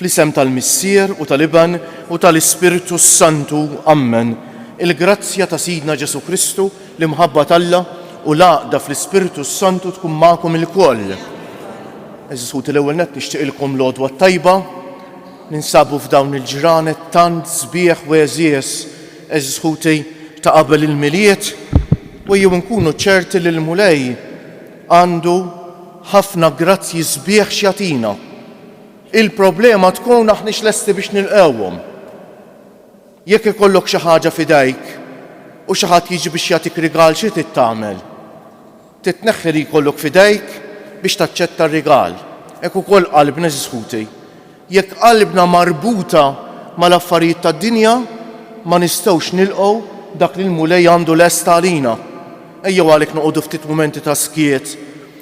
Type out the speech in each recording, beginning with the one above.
Fl-isem tal-Missier u tal-Iben u tal-Ispirtu s-Santu, ammen, il-grazzja ta' Sidna Ġesù Kristu, l-imħabba t'Alla, u l-għaqda fl-Ispirtu s-Santu tkun magħkom ilkoll. Għeżież ħuti l-ewwel nett nixtieqilkom l-għodwa t-tajba. Ninsabu f'dawn il-ġranet tant sbieħ u għeżież, għeżież ħuti, ta' qabel il-Milied, u ejjew inkunu ċerti li l-Mulej, Għandu ħafna grazzji sbieħ x'jagħtina. Il-problema tkun aħniex lesti biex nilqgħuhom. Jekk ikollok xi ħaġa f'idejk u xi ħadd jiġi biex jagħtik rigal xi trid tagħmel? Trid tneħħi li jkollok f'idejk biex taċċetta r-rigal. Hekk ukoll qalbna eżiż ħuti. Jekk qalbna marbuta mal-affarijiet tad-dinja, ma nistgħux nilqgħu dak li l-Mulej għandu lest għalina. Ejjew għalhekk noqogħdu ftit mumenti ta' skiet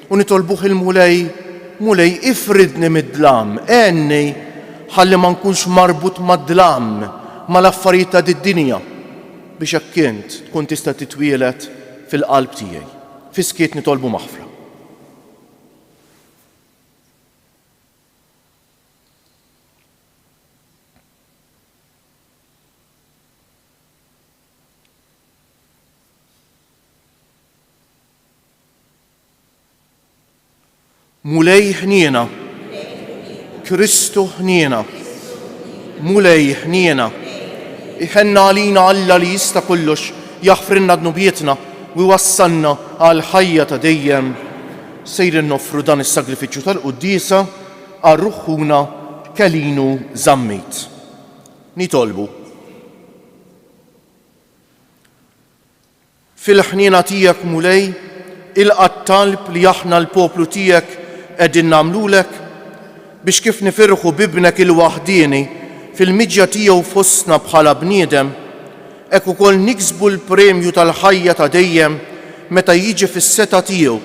u nitolbuh il-Mulej, Mulej, ifridni mid-dlam, għenni ħalli ma nkunx marbut mad-dlam, mal-affarijiet ta' did-dinja, biex hekk int tkun tista' titwieled fil-qalb tiegħi. Fis-skiet nitolbu maħfra. Mulej ħniena, Kristu ħniena, Mulej ħniena, iħenna għalina Alla li jista' kollox jaħfrinna dnubietna u wassalna għal ħajja ta' dejjem. Sejrin noffru dan is-sagrifiċċju tal-Quddiesa għal ruħħuna Kelinu Zammit. Nitolbu. Fil-ħniena tiegħek, Mulej, ilqa' t-talb li aħna l-poplu tiegħek qegħdin nagħmlulek biex kif nifirħu b'Ibnek il-waħdieni fil-miġja tiegħu fostna bħala bniedem, hekk ukoll niksbu l-premju tal-ħajja ta' dejjem meta jiġi fis-setgħa tiegħu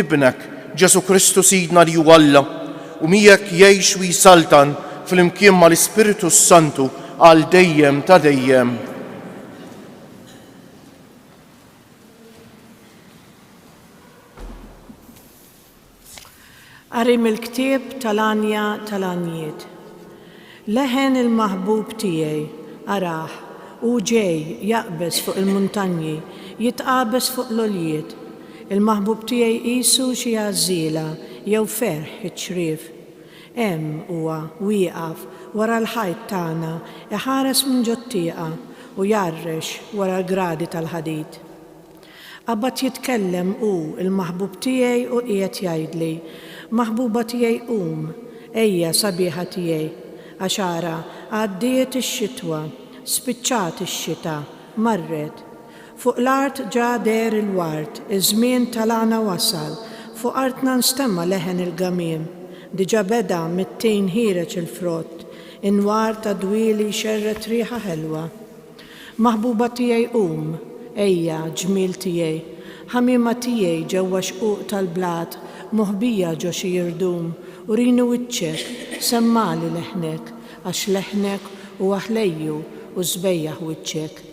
Ibnek, Ġesù Kristu Sidna li hu Alla u miegħek jgħix u jsaltan flimkien mal-Ispirtu s-Santu għal dejjem ta' dejjem. Qari mill-ktieb tal-għanja tal-għanjiet. Leħen il-maħbub tiegħi, arah, hu ġej, jaqbeż fuq il-muntanji, jitqabeż fuq l-għoljiet. Il-maħbub tiegħi qisu xi għażżiela jew ferħ iċ-ċriev. Hemm huwa, wieqaf wara l-ħajt tagħna, iħares minn ġot-tieqa u jgħarrex wara l-gradi tal-ħadid. Qabad jitkellem hu, il-maħbub tiegħi u qiegħed jgħidli, Maħbuba tiegħi qum, ejja, sabiħa tiegħi. Għax ara, għaddiet ix-xitwa, spiċċat ix-xita, marret. Fuq l-art ġa deher il-ward, iż-żmien tal-għana wasal, fuq artna nstema' leħen il-gamiem. Diġa' beda mit-tin ħiereġ il-frott, inwar ta' dwieli jxerred riħa ħelwa. Maħbuba tiegħi qum, ejja, ġmiel tiegħi, ħamiema tiegħi ġewwa xquq tal-blat, moħbija ġo xi jirdum, urini wiċċek, semmagħli leħnek, għax leħnek huwa ħlejju u s-sbejjaħ wiċċek.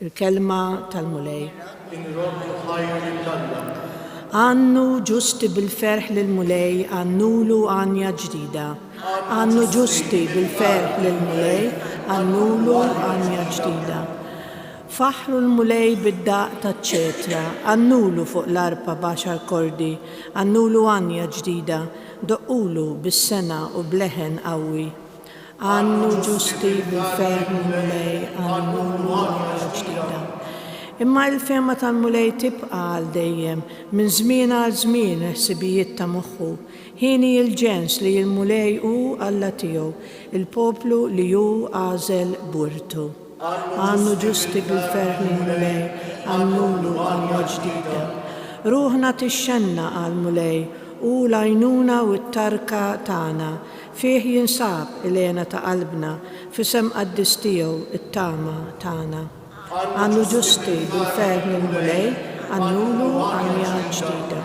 Il-Kelma tal-Mulej. Inrobbu ħajti lill-Alla. Għannu ġusti bil-ferħ lill-Mulej, għannulu għanja ġdida. Għannu ġusti bil-ferħ lill-Mulej, għannulu għanja ġdida. Faħħru l-Mulej bid-daqq taċ-ċetra, għannulu fuq l-arpa b'għaxar kordi, għannulu għanja ġdida, doqqulu bis-sengħa u b'leħen qawwi. Għannu ġusti bil-ferħ lill-Mulej, għannulu għanja ġdida. Imma l-fehma tal-Mulej tibqa' għal dejjem, minn żmien għal żmien il-ħsibijiet ta' moħħu, Ħini il-ġens li l-Mulej hu Alla tiegħu, il-poplu li hu għażel b'wirtu. Għannu ġusti bil-ferħ lill-Mulej, għannulu għanwa ġdida. Ruħna tixxenna għall-Mulej, hu l-għajnuna u t-tarka tagħna, fih jinsab il-hena ta' qalbna, f'isem qaddis tiegħu t-tama tagħna. Għannu ġusti bil-ferħ lill-Mulej, għannulu għanwa ġdida.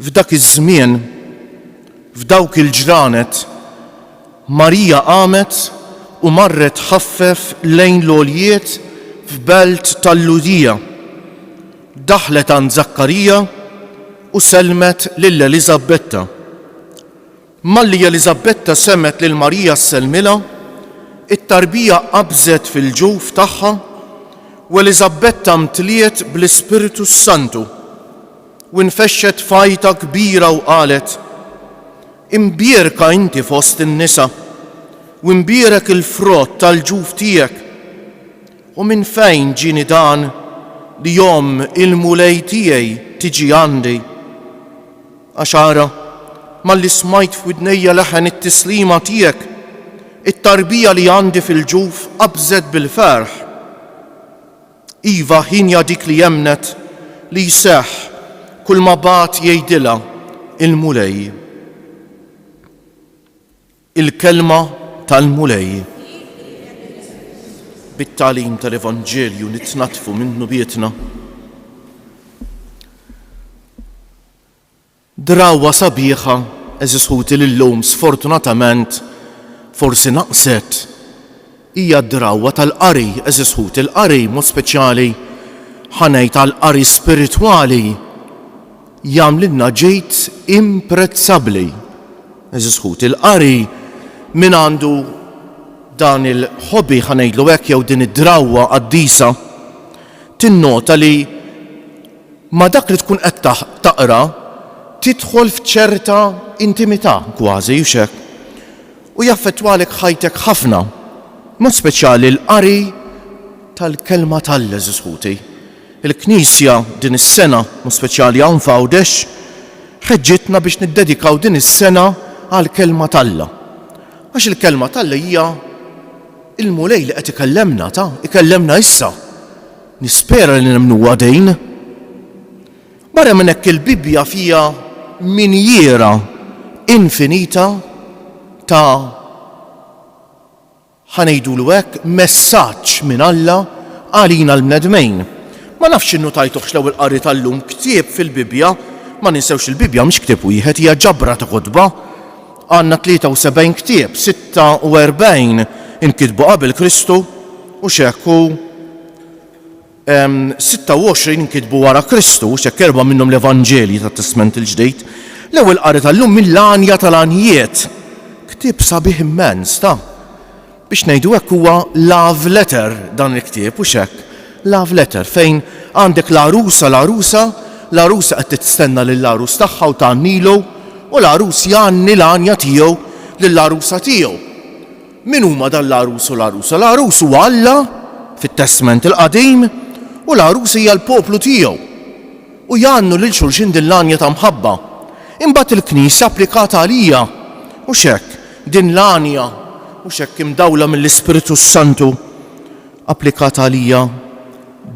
F'dak iż-żmien, f'dawk il-ġranet, Marija qamet u marret ħaffef lejn l-għoljiet f'belt tal-Lhudija. Daħlet għand Żakkarija u sellmet lil Eliżabbetta. Malli Eliżabetta semgħet lil Marija ssellmilha, it-tarbija qabżet fil-ġuf tagħha u Eliżabetta mtliet bl-Ispirtu s-Santu u nfexxet f'għajta kbira u qalet, Imbierka inti fost in-nisa, u imbierek il-frott tal-ġuf tiegħek. U minn fejn ġieni dan li omm il-Mulej tiegħi tiġi għandi? Għax ara, malli smajt f'widnejja leħen it-tislima tiegħek, it-tarbija li għandi fil-ġuf qabżet bil-ferħ. Iva, hienja dik li emmnet li jseħħ kulma bagħat jgħidilha l-Mulej. Il-Kelma tal-Mulej Bit-tagħlim tal-Evanġelju nitnaddfu minn dnubietna. Drawwa sabiħa, għeżież ħuti li llum sfortunatament forsi naqset. Hija d-drawwa tal-qari, għeżież ħuti, l-qari, b'mod speċjali ħa ngħid għall-qari spiritwali, jagħmlilna ġid imprezzabbli. Għeżież ħuti, l-qari, min għandu dan il-hobby, ħa ngħidlu hekk, jew din id-drawwa qaddisa, tinnota li ma' dak li tkun qed taqra tidħol f'ċerta intimità kważi, hux hekk? u jaffettwalek ħajtek ħafna, b'mod speċjali l-qari tal-Kelma t'Alla, għeżież ħuti. Il-Knisja din is-sena, b'mod speċjali hawn f'Għawdex, ħeġġitna biex niddedikaw din is-sena għall-Kelma t'Alla. Għax il-Kelma t'Alla hija l-Mulej li qed ikellemna, ta, ikellemna issa. Nispera li nemmnuha din. Barra minn hekk il-Bibbja fiha minjiera infinita ta' ħa ngħidulu hekk messaġġ minn Alla għalina l-bnedmejn. Ma nafx innutajtuhx l-ewwel qari tal-lum ktieb fil-Bibbja, ma ninsewx il-Bibbja mhix ktieb wieħed hija ġabra ta' kotba. Għandna 73 ktieb, 46 inkitbu qabel Kristu u x'hekk u 26 inkitbu wara Kristu, x'hekk erbgħa minnhom l-Evanġelji tat-Testment il-Ġdid. L-ewwel qari tal-lum mill-għanja tal-għanjiet. Ktieb sabiħ immens, ta' biex ngħidu hekk huwa love letter dan il-ktieb u x'hekk. Love letter fejn għandek l-għarusa l-għarusa, l-għarusa qed tistenna lill-għarus tagħha u tgħannilu u l-għarus jgħanni l-għanja tiegħu lill-għarusa tiegħu. Min huma dan l-għarus u l-għarusa? L-għarus huwa Alla, fit-Testment il-Qadim, u l-għarusa hija l-poplu tiegħu. U jgħannu lil xulxin din l-għanja ta' mħabba. Imbagħad il-Knisja applikata għalija, hux hekk? Din l-għanja, hux hekk, imdawla mill-Ispirtu s-Santu, applikat għalija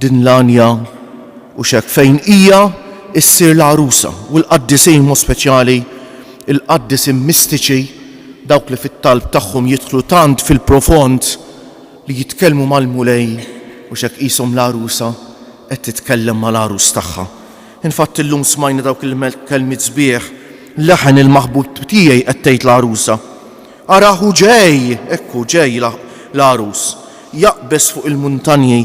din l-għanja u x'hekk, fejn hija ssir l-għarusa, u l-qaddisin b'mod speċjali l-qaddisin mistiċi, dawk li fit-talb tagħhom jidħlu tant fil-profond li jitkellmu mal-Mulej u x'hekk qishom l-għarusa qed titkellem mal-għarus tagħha. Infatti illum smajna dawk il-kelmiet sbieħ, Leħen il-maħbub tiegħi qed tgħid l-għarusa. Arah hu ġej! Hekk hu ġej l-għarus. Jaqbeż fuq il-muntanji,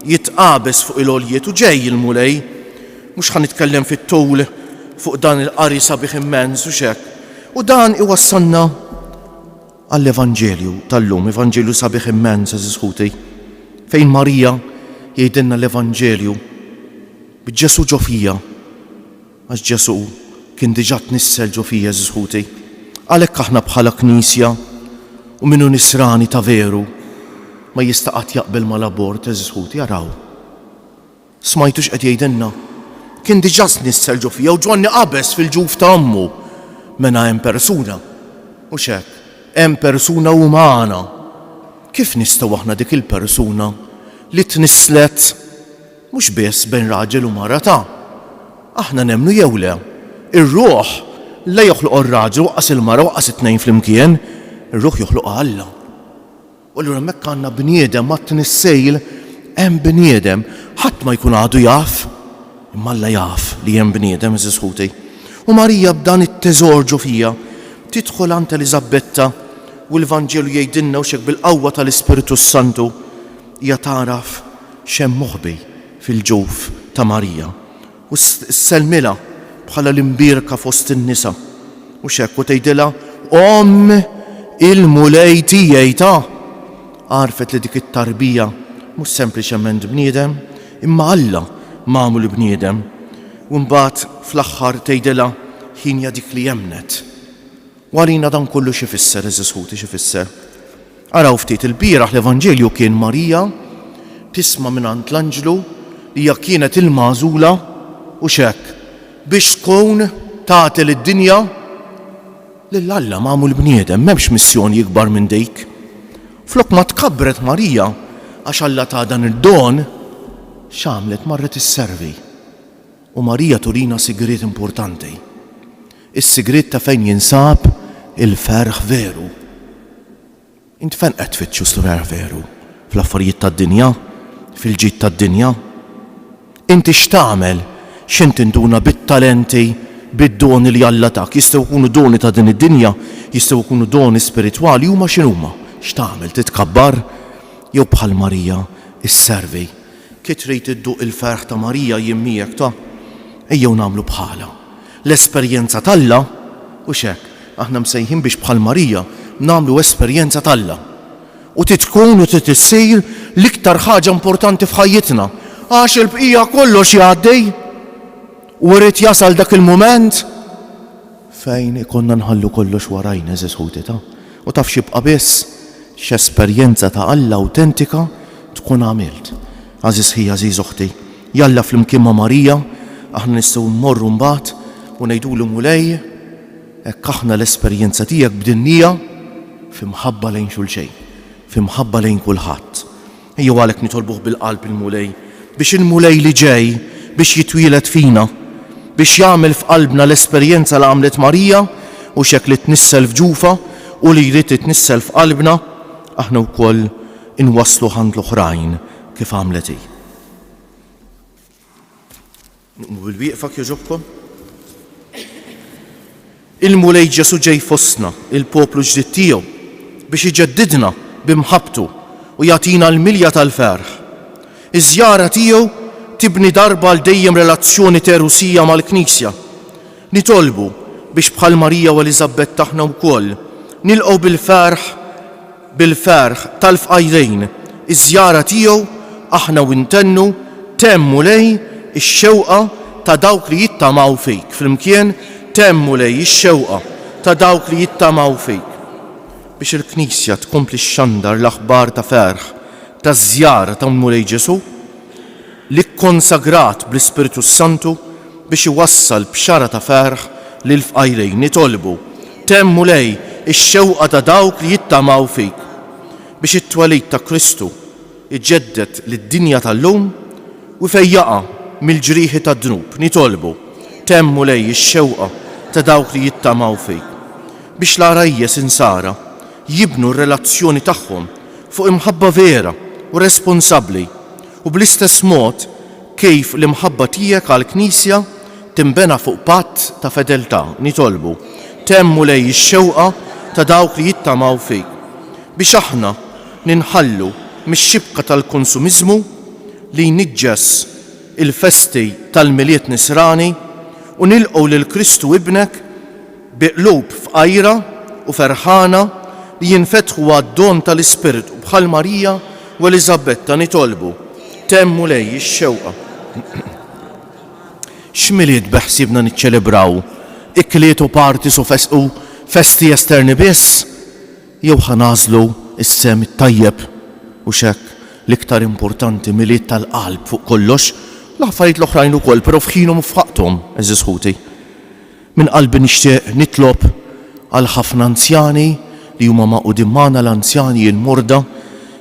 jitqabeż fuq il-għoljiet u ġej il-Mulej. Mhux ħa nitkellem fit-tul fuq dan il-qari sabiħ immens, hux hekk? U dan iwassalna għall-Evanġelju tal-lum, Evanġelju sabiħ immens, għażiż ħuti, fejn Marija jgħidilna l-Evanġelju, b'Ġesù ġo fija. Għax Ġesù kien diġà tnissel ġo fija, għeżież ħuti. Għalhekk aħna bħala Knisja, u min hu nisrani ta' veru, ma jista' qatt jaqbel mal-abort, għeżież ħuti, araw. Smajtu x'qed jgħidilna? Kien diġà tnissel ġo fija u Ġwanni qabeż fil-ġuf ta' ommu. Mena hemm persuna. Mhux hekk? Hemm persuna umana. Kif nistgħu aħna dik il-persuna li tnisslet Mhux biss bejn raġel u marata, aħna nemmnu jew le, ir-ruħ la joħloqha r-raġel u aqqas il-mara u aqqas it-tnejn flimkien, ir-ruħ joħloqha Alla. U allura hemmhekk għandna bniedem mat-tnissejl hemm bniedem. Ħadd ma jkun għadu jaf, imma Alla jaf li hemm bniedem, għeżież ħuti. U Marija b'dan it-teżor ġo fiha, tidħol għand Eliżabbetta u l-Vanġelu jgħidilna u x'hekk bil-qawwa tal-Ispirtu s-Santu, Hija tagħraf x'hemm moħbi fil-ġuf ta' Marija u ssellmilha bħala l-imbierka fost in-nisa, mhux hekk, u tgħidilha, Omm il-Mulej tiegħi ta'! Għarfet li dik it-tarbija mhux sempliċement bniedem, imma Alla magħmul bniedem. U mbagħad fl-aħħar tgħidilha, Hi hija dik li emmnet. Warina dan kollu x'ifisser, għeżież ħuti, x'ifisser. Araw ftit, ilbieraħ l-Evanġelju kien Marija tisma' mingħand l-anġlu li hija kienet il-magħżula u x'hekk, biex tkun tagħti lid-dinja lil Alla magħmul bniedem. M'hemmx missjoni ikbar minn dik. Flok ma tkabbret Marija għax Alla taha dan id-don, x'għamlet? Marret isservi. U Marija turina sigriet importanti, is-sigriet ta' fejn jinsab il-ferħ veru. Int fejn qed tfittxu s-ferħ veru? Fl-affarijiet tad-dinja? Fil-ġid tad-dinja? Inti x'tagħmel? X'int tinduna bit-talenti, bid-doni li Alla tak? Jistgħu jkunu doni ta' din id-dinja, jistgħu jkunu doni spiritwali, huma x'inhuma? X'tagħmel? Titkabbar? Jew bħal Marija, isservi? Ki trid idduq il-ferħ ta' Marija jien miegħek ta'. Ejjew nagħmlu bħalha. L-esperjenza t'Alla, hux hekk, aħna msejħin biex bħal Marija nagħmlu esperjenza t'Alla. U trid tkun u trid issir l-iktar ħaġa importanti f'ħajjitna, għax il-bqija kollox jgħaddi. U irid jasal dak il-mument. Fejn ikollna nħallu kollox warajna, għeżież ħuti ta', u taf x'jibqa' biss? X'esperjenza ta' Alla awtentika tkun għamilt. Għażiż ħija, għażiż oħti, jalla flimkien ma' Marija, aħna nistgħu mmorru mbagħad u ngħidulu, Mulej, hekk aħna l-esperjenza tiegħek bdinnija f'imħabba lejn xulxejn, f'imħabba lejn kulħadd. Ejjew għalhekk nitolbuh bil-qalb il-Mulej, biex il-Mulej li ġej biex jitwieled fina, biex jagħmel f'qalbna l-esperjenza li għamlet Marija u x'hekk li tnissel f'ġufha u li jrid jitnissel f'qalbna, aħna wkoll inwassluh għand l-oħrajn kif għamlet hi. Qmu bil-wieqfa kjoġobkom. Il-Mulej Ġesù ġej fostna, il-poplu ġdid tiegħu, biex iġeddidna bi mħabbtu u jagħtina l-milja tal-ferħ. Iż-żjara tiegħu tibni darba għal dejjem relazzjoni terusija mal-Knisja. Nitolbu biex bħal Marija u Eliżabetta aħna wkoll nilqgħu bil-ferħ Bil-ferħ tal-fqajrin, iż-żjara tiegħu, aħna u intennu, temm Mulej, ix-xewqa ta' dawk li jittamaw fik. Flimkien, Temm Mulej, ix-xewqa ta' dawk li jittamaw fik. Biex il-Knisja tkompli xxandar l-aħbar ta' ferħ taż-żjara ta' Mulej Ġesù, li kkonsagrat bl-Ispirtu s-Santu biex iwassal bxara ta' ferħ lill-fqajrin, nitolbu, Temm Mulej, ix-xewqa ta' dawk li jittamaw fik, biex it-twelid ta' Kristu jġedded lid-dinja tal-lum u jfejjaqha mill-ġrieħi tad-dnub, nitolbu, Temm Mulej, ix-xewqa ta' dawk li jittamaw fik, biex l-għarajjes insara jibnu r-relazzjoni tagħhom fuq imħabba vera u responsabbli, U bl-istess mod kif l-imħabba tiegħek għall-Knisja tinbena fuq patt ta' fedeltà, nitolbu, Temm, Mulej, ix-xewqa ta' dawk li jittamaw fik, biex aħna ninħallu mix-xibka tal-konsumiżmu li jniġġes il-festi tal-Milied Nisrani u nilqgħu lil Kristu Ibnek, Bi qlub fqajra u ferħana li jinfetħu għad-don tal-Ispirtu, bħal Marija u Eliżabetta nitolbu, Temm Mulej ix-xewqa. X'Milied beħsiebna niċċelebraw? Ikliet u parties u festi esterni biss? Jew ħa nagħżlu s-sehem it-tajjeb u x'hekk? L-iktar importanti Milied tal-qalb fuq kollox, l-affarijiet l-oħrajn ukoll, però f'ħinhom u f'waqthom, għeżież ħuti. Minn qalbi nixtieq nitlob għal ħafna anzjani li huma magħqudin magħna, l-anzjani, il-morda,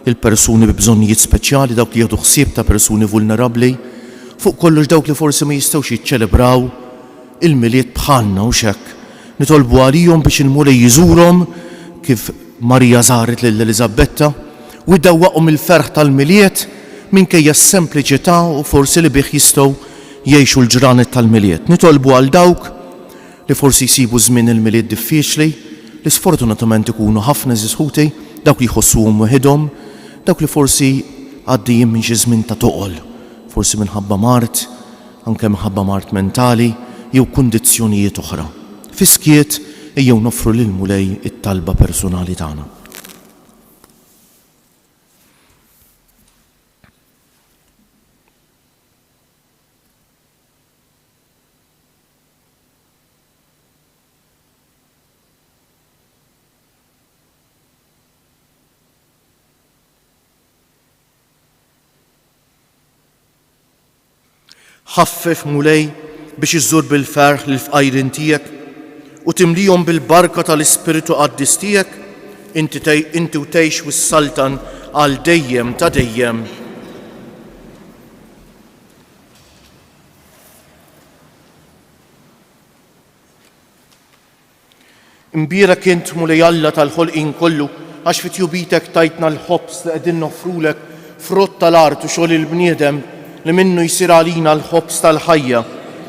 il-persuni bi bżonnijiet speċjali, dawk li jieħdu ħsieb ta' persuni vulnerabbli, fuq kollox dawk li forsi ma jistgħux jiċċelebraw il-Milied bħalna, hux hekk? Nitolbu għalihom biex il-Mulej iżurhom kif Marija żaret lil Eliżabetta u jdawwaqhom il-ferħ tal-Milied minkejja s-sempliċità u forsi li bih jistgħu jgħixu l-ġranet tal-Milied. Nitolbu għal dawk li forsi jsibu żmien il-Milied diffiċli, li sfortunatament ikunu ħafna għeżież ħuti, dawk li jħossuhom weħidhom, dawk li forsi għaddejjin minn xi żmien ta' toqol, forsi minħabba mard, anke minħabba mard mentali jew kundizzjonijiet oħra. Fis-skiet, ejjew noffru lill-Mulej it-talba persunali tagħna. Ħaffef, Mulej, biex iżżur bil-ferħ lill-fqajrin tiegħek u timlihom bil-barka tal-Ispirtu Qaddis tiegħek, inti u tgħix u ssaltan għal dejjem ta' dejjem. Imbira kien Mulej Alla tal-ħolqin kollu, għax fit jubitek tajtna l-ħobs li qegħdin nofrulek frott tal-art u xogħol il-bniedem li minnu jsir għalina l-ħobs tal-ħajja.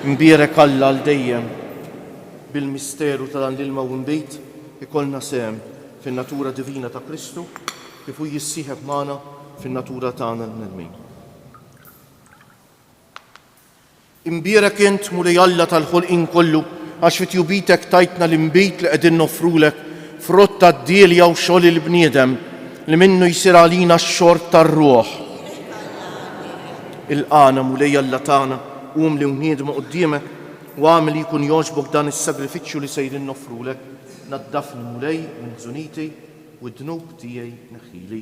Imbirek Alla għal dejjem. Bil-misteru ta' dan l-ilma u mbit ikollna sehem fin-natura divina ta' Kristu. kif hu jissieħeb magħna fin-natura tagħna l-bnedmin. Imbierek int, Mulej Alla tal-ħolqien kollu, għax fi tjubitek tajtna l-inbid li qegħdin noffrulek, frott tad-dielja u xogħol il-bniedem, li minnu jsir għalina x-xorb tar-ruħ. Il-qana, Mulej Alla tagħna, qum li wniedmu quddiemek, u għamel li jkun jogħġbok dan is-sagrifiċċju li sejrin noffrulek. Naddafni, Mulej, minn żuniti, u d-dnub tiegħi neħħili.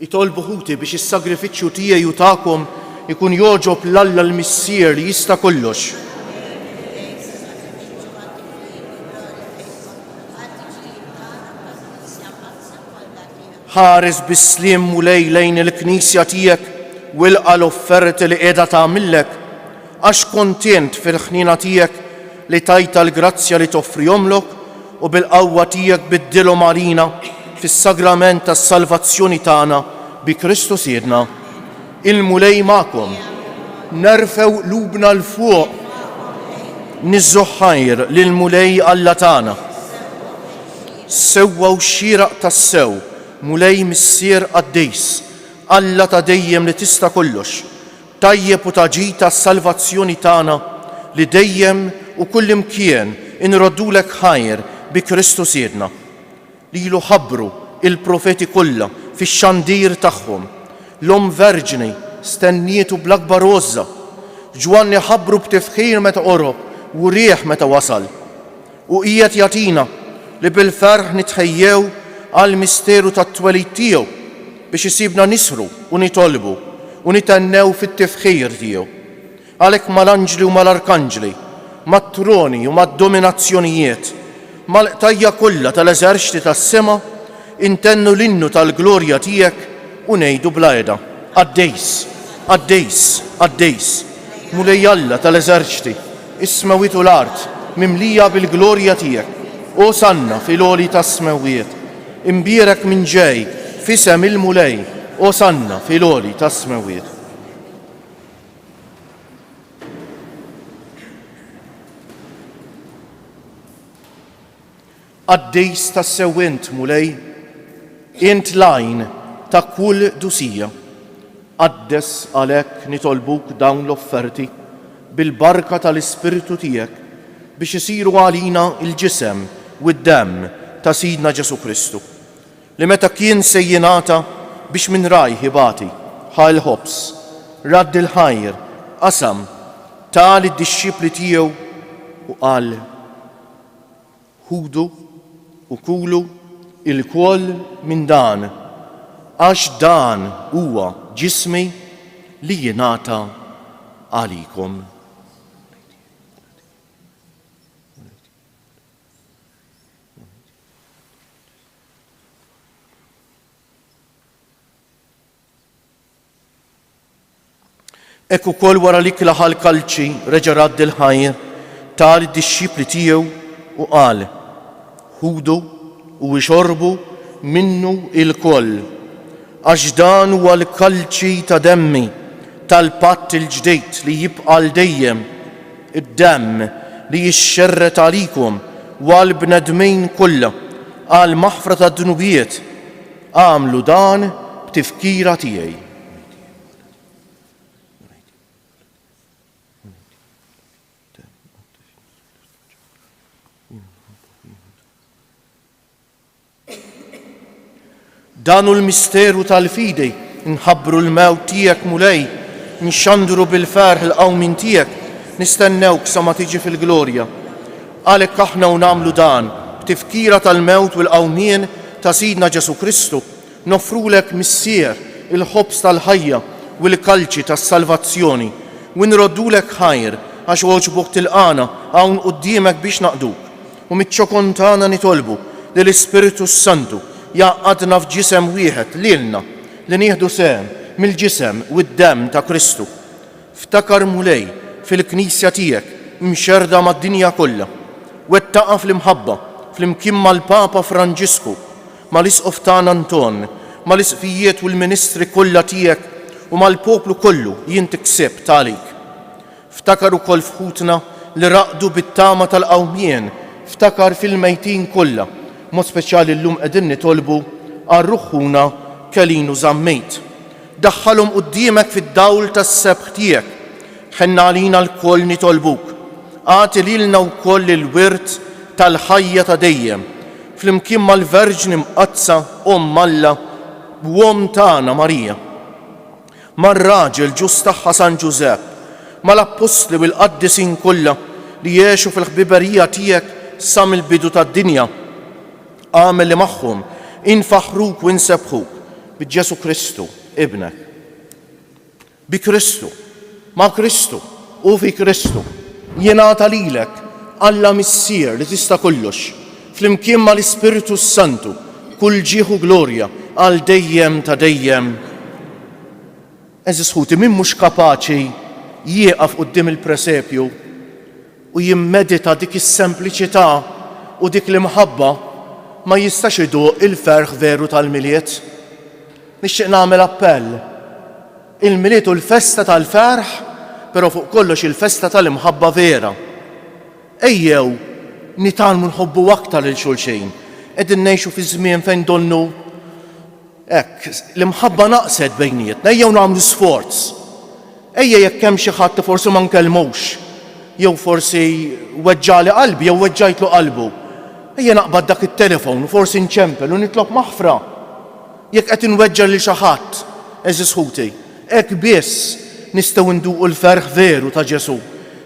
Itolbu ħuti biex is-sagrifiċċju tiegħi u tagħkom ikun jogħġob l-Alla l-Missier li jista' kollox. ħares bis-slim u lejlejn il-knisja tiegħek wilqa l-offerti li qiegħda tagħmillek Għax kontent fil-ħniena tiegħek li tajtha l-grazzja li toffrihomlok u bil-qawwa tiegħek biddilhom għalina fis-sagrament tas-salvazzjoni tagħna bi Kristu Sidna. Il-Mulej magħkom. Nerfgħu qlubna 'l fuq niżżgħu ħajr lill-Mulej Alla tagħna. Sewwa u xieraq tassew, Mulej Missier qaddis, Alla ta' dejjem li tista' kollox, Tajjeb u ta' ġid għas-salvazzjoni tagħna li dejjem u kullimkien inroddulek ħajr bi Kristu Sidna. Lilu ħabbru l-profeti kollha fix-xandir tagħhom. L-Omm Verġni stennietu bl-akbar għożża. Ġwanni ħabbru b'tifħir meta qorob u riegħ meta wasal. U qiegħed jagħtina li bil-ferħ nitħejjew għall-misteru tat-twelid tiegħu biex isibna nisħru u nitolbu u nithennew fit-tifħir tiegħu. Għalhekk mal-anġli u mal-arkanġli, mat-troni u mad-dominazzjonijiet, mal-qtajja' kollha tal-eżerċti tas-sema, Intennu l-innu tal-glorja tiegħek u ngħidu bla heda, Qaddejs, qaddejs, qaddejs, Mulej Alla tal-eżerċti, is-smewwiet u l-art mimlija bil-glorja tiegħek. Osanna fil-għoli tas-smewwiet. Imbierek min ġej f'isem il-Mulej, Osanna fil-għoli tas-smewwiet. Qaddis tassew int, Mulej, int l-għajn ta' kull dusija. Qaddes għalhekk nitolbuk dawn l-offerti bil-barka tal-Ispirtu tiegħek biex isiru għalina l-ġisem u d-demm ta' Sidna Ġesù Kristu, li meta kien se jingħata biex minn rajh ibati, ħa l-ħobż, radd il-ħajr, qasam, ta lid-dixxipli tiegħu u qal, Ħudu u kulu ilkoll minn dan, għax dan huwa ġismi li jingħata għalikom. Hekk ukoll wara li klaħa l-kalċi reġa' radd il-ħajr, ta lid-dixxipli tiegħu u qal, Ħudu u ixorbu minnu ilkoll, għax dan huwa l-kalċi ta' demmi tal-patt il-ġdid li jibqa' għal dejjem, id-demm li jixxerred għalikom u għall-bnedmin kollha għall-maħfra tad-dnubiet. Agħmlu dan b'tifkira tiegħi. Dan hu l-misteru tal-fidi, nħabbru l-mewt tiegħek mulej, nxandru bil-ferħ l-qawmin tiegħek, nistennewk sa ma tiġi fil-glorja. Għalhekk aħna u nagħmlu dan, b'tifkira tal-mewt u l-qawmien ta' Sidna Ġesù Kristu, noffrulek, Missier, il-ħobż tal-ħajja u l-kalċi tas-salvazzjoni, u nroddulek ħajr, għax għoġbok tilqagħna hawn quddiemek biex naqduk, u miċ-ċokon tagħna nitolbu li l-Ispirtu s-Santu jgħaqqadna f'ġisem wieħed lilna, li nieħdu sehem mill-ġisem u d-demm ta' Kristu. Ftakar Mulej fil-Knisja tiegħek imxerrda mad-dinja kollha. Wettaqha fl-imħabba flimkien mal-Papa Franġisku, mal-Isqof tagħna Anton, mal-Isqfijiet u l-ministri kollha tiegħek u mal-poplu kollu li inti ksibt għalik. Ftakar ukoll f'ħutna li raqdu bit-tama tal-qawmien. Ftakar fil-mejtin kollha, b'mod speċjali llum qegħdin nitolbu għal ruħ ħuna Kelin Użammejt. Daħħalhom quddiemek fid-dawl tas-sebħ tiegħek. Ħenna għalina lkoll nitolbuk. Agħti lilna wkoll il-wirt tal-ħajja ta' dejjem, flimkien mal-Verġni Mqaddsa, Omm Alla u Omm tagħna Marija, mar-raġel ġust tagħha San Ġużepp, mal-appostli u l-qaddisin kollha li għexu fil-ħbiberija tiegħek sa mill-bidu tad-dinja. Agħmel li magħhom infaħħruk u insebbħuk bi Ġesù Kristu, Ibnek. Bi Kristu, ma' Kristu u fi Kristu jingħata lilek Alla Missier li tista' kollox, flimkien mal-Ispirtu s-Santu, kull ġieħ u glorja għal dejjem ta' dejjem. Għeżież ħuti, min mhux kapaċi jieqaf quddiem il-presepju u jimmedita dik is-sempliċità u dik l-imħabba, ma jistax iduq il-ferħ veru tal-Milied. Nixtieq nagħmel appell. Il-Milied hu l-festa tal-ferħ, però fuq kollox il-festa tal-imħabba vera. Ejjew nitgħallmu nħobbu aktar lil xulxin. Qegħdin ngħixu fi żmien fejn donnu Hekk, l-imħabba naqset bejnietna. Ejjew nagħmlu sforz. Ejja jekk hemm xi ħadd li forsi ma nkellmux, jew forsi weġġagħli qalbi jew weġġajtlu qalbu, ejja naqbad dak it-telefon u forsi nċempel u nitlob maħfra. Jekk qed inweġġa' lil xi ħadd, għeżież ħuti, hekk biss nistgħu nduqu l-ferħ veru ta' Ġesù,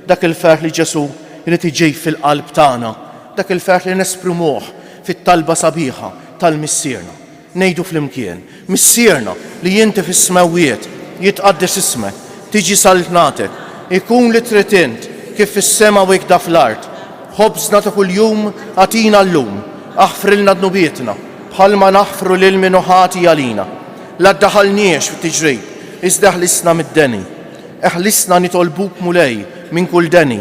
dak il-ferħ li Ġesù jrid iġib fil-qalb tagħna, dak il-ferħ li nesprimuh fit-talba sabiħa tal-Missierna. Ngħidu flimkien, Missierna li inti fis-smewwiet, jitqaddes ismek, tiġi saltnatek, ikun li trid int, kif fis-sema u ikda fl-art. Ħobżna ta' kuljum agħtina llum. Aħfrilna dnubietna, bħalma naħfru lil min hu ħati għalina. La ddaħħalniex f'tiġrib, iżda eħlisna mid-deni. Eħlisna nitolbuk, Mulej, minn kull deni.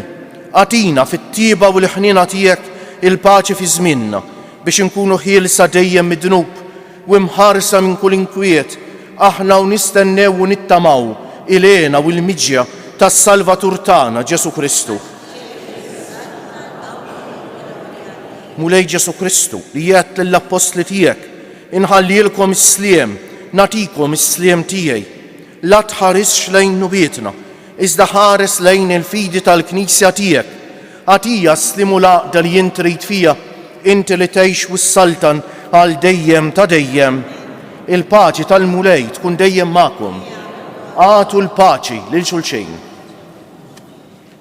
Agħtina, fit-tjieba u l-ħniena tiegħek, il-paċi fi żmienna, Biex inkunu ħielsa dejjem mid-dnub u mħarsa minn kull inkwiet, aħna u nistennew u nittamaw il-hena u l-miġja tas-Salvatur tagħna, Ġesù Kristu. Mulej Ġesù Kristu, li għedt lill-appostli tiegħek, inħallielkom is-sliem, nagħtikom is-sliem tiegħi. La tħarisx lejn nubietna, Iżda ħares lejn il-fidi tal-Knisja tiegħek. Agħtija s-sliem u l-għaqda li int trid fiha, inti li tgħix u ssaltan għal dejjem ta' dejjem. Il-paċi tal-Mulej tkun dejjem magħkom. Agħtu l-paċi lil xulxejn.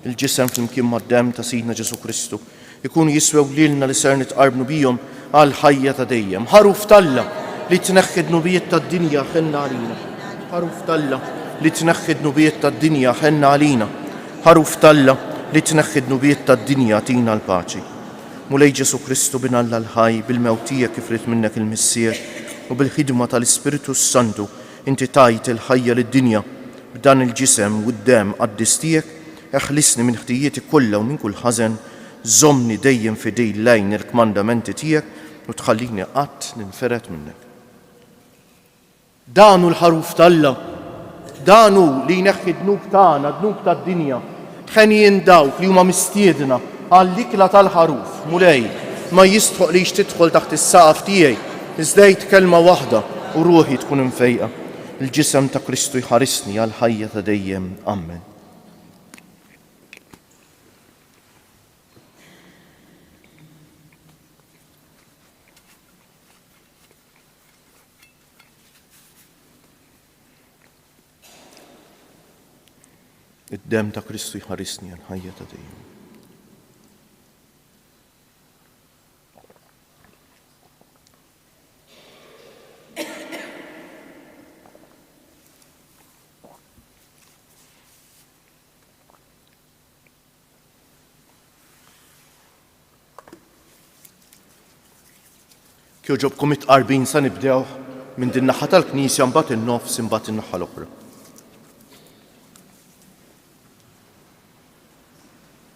Il-ġisem flimkien mad-demm ta' Sidna Ġesù Kristu Ikunu jiswew lilna li ser nitqarbnu bihom għal ħajja ta' dejjem. Ħaruf t'Alla li tneħħi d-dnubiet tad-dinja ħenna għalina. Ħaruf t'Alla li tneħħi d-dnubiet tad-dinja ħenna għalina. Ħaruf t'Alla li tneħħi d-dnubiet tad-dinja tina l-paċi. Mulej Ġesu Kristu Bin Alla l-ħaj, bil-mewt tiegħek kif ried minnek il-Missier u bil-ħidma tal-Ispirtu s-Santu inti tajt il-ħajja lid-dinja b'dan il-ġisem u d-demm qaddis tiegħek Eħlisni minn ħtijieti kollha u minn kull ħażen, żommni dejjem fidil lejn il-kmandamenti tiegħek u tħallini qatt ninfered minnek. Dan hu l-Ħaruf t'Alla. Dan hu li jneħħi d-dnub tagħna, d-dnub tad-dinja. Henjin dawk li huma mistiedna għall-ikla tal-Ħaruf. Mulej, ma jistħoqlix tidħol taħt is-saqaf tiegħi, iżda għid kelma waħda u ruħi tkun imfejqa. Il-Ġisem ta' Kristu jħarisni għall-ħajja ta' dejjem. Amen. Id-dem ta' Kristu jħarisni għal ħajja ta' dejjem. Kjoġobkom it-qarbin sa nibdew minn din naħa tal-knisja mbagħad in-nofs imbagħad in-naħa l-oħra.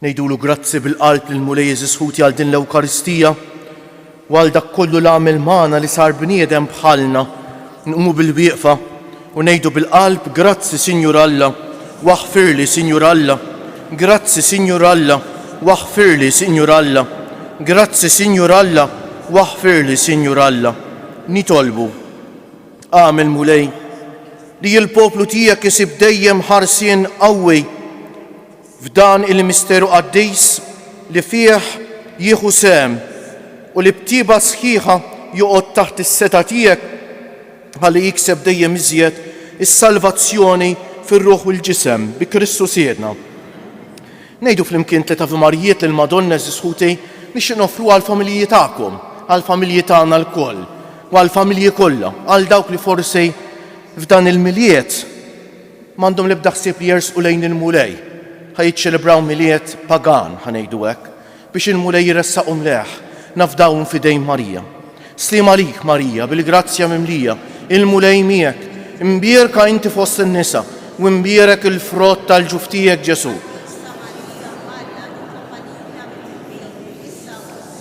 Ngħidulu grazzi bil-qalb lill-Mulej Jeżus Ħuti għal din l-Ewkaristija u għal dak kollu li għamel magħna li sar bniedem bħalna. Nqumu bil-wieqfa u ngħidu bil-qalb grazzi Sinjur Alla waħfirli Sinjur Alla. Grazzi Sinjur Alla waħfirli Sinjur Alla. Grazzi Sinjur Alla waħfirli Sinjur Alla. Nitolbu Agħmel, Mulej, li l-poplu tiegħek isib dejjem ħarsien qawwi f'dan il-misteru qaddis li fih jieħu sehem u li b'tieba sħiħa joqgħod taħt is-setgħa tiegħek ħalli jikseb dejjem iżjed is-salvazzjoni fir-ruħ u l-ġisem bi Kristu Sidna. Ngħidu flimkien tliet Avi Marijiet lill-Madonna eżisħuti nixtieq nofru għall-familji tagħkom, għall-familji tagħna lkoll. għall-familji kollha, għal dawk li forsi f'dan il-Milied m'għandhom l-ebda ħsieb li jersqu lejn il-Mulej, ħa jiċċelebraw Milied pagan, ħa ngħidu hekk, biex il-Mulej iressaqhom lejh, nafdawhom f'idejn Marija. Sliem għalik, Marija, bil-grazzja mimlija, il-Mulej miegħek, imbierka inti fost in-nisa, u imbierek il-frott tal-ġuf tiegħek Ġesù.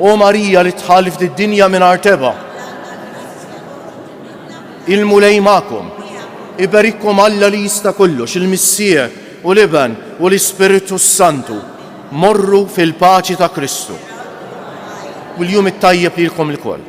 O Marija li tħallift id-dinja mingħajr teba. Il-Mulej magħkom. Iberikkom Alla li jista' kollox, il-Missier u l-Iben u l-Ispirtu s-Santu. Morru fil-paċi ta' Kristu. U l-jum it-tajjeb lilkom lkoll.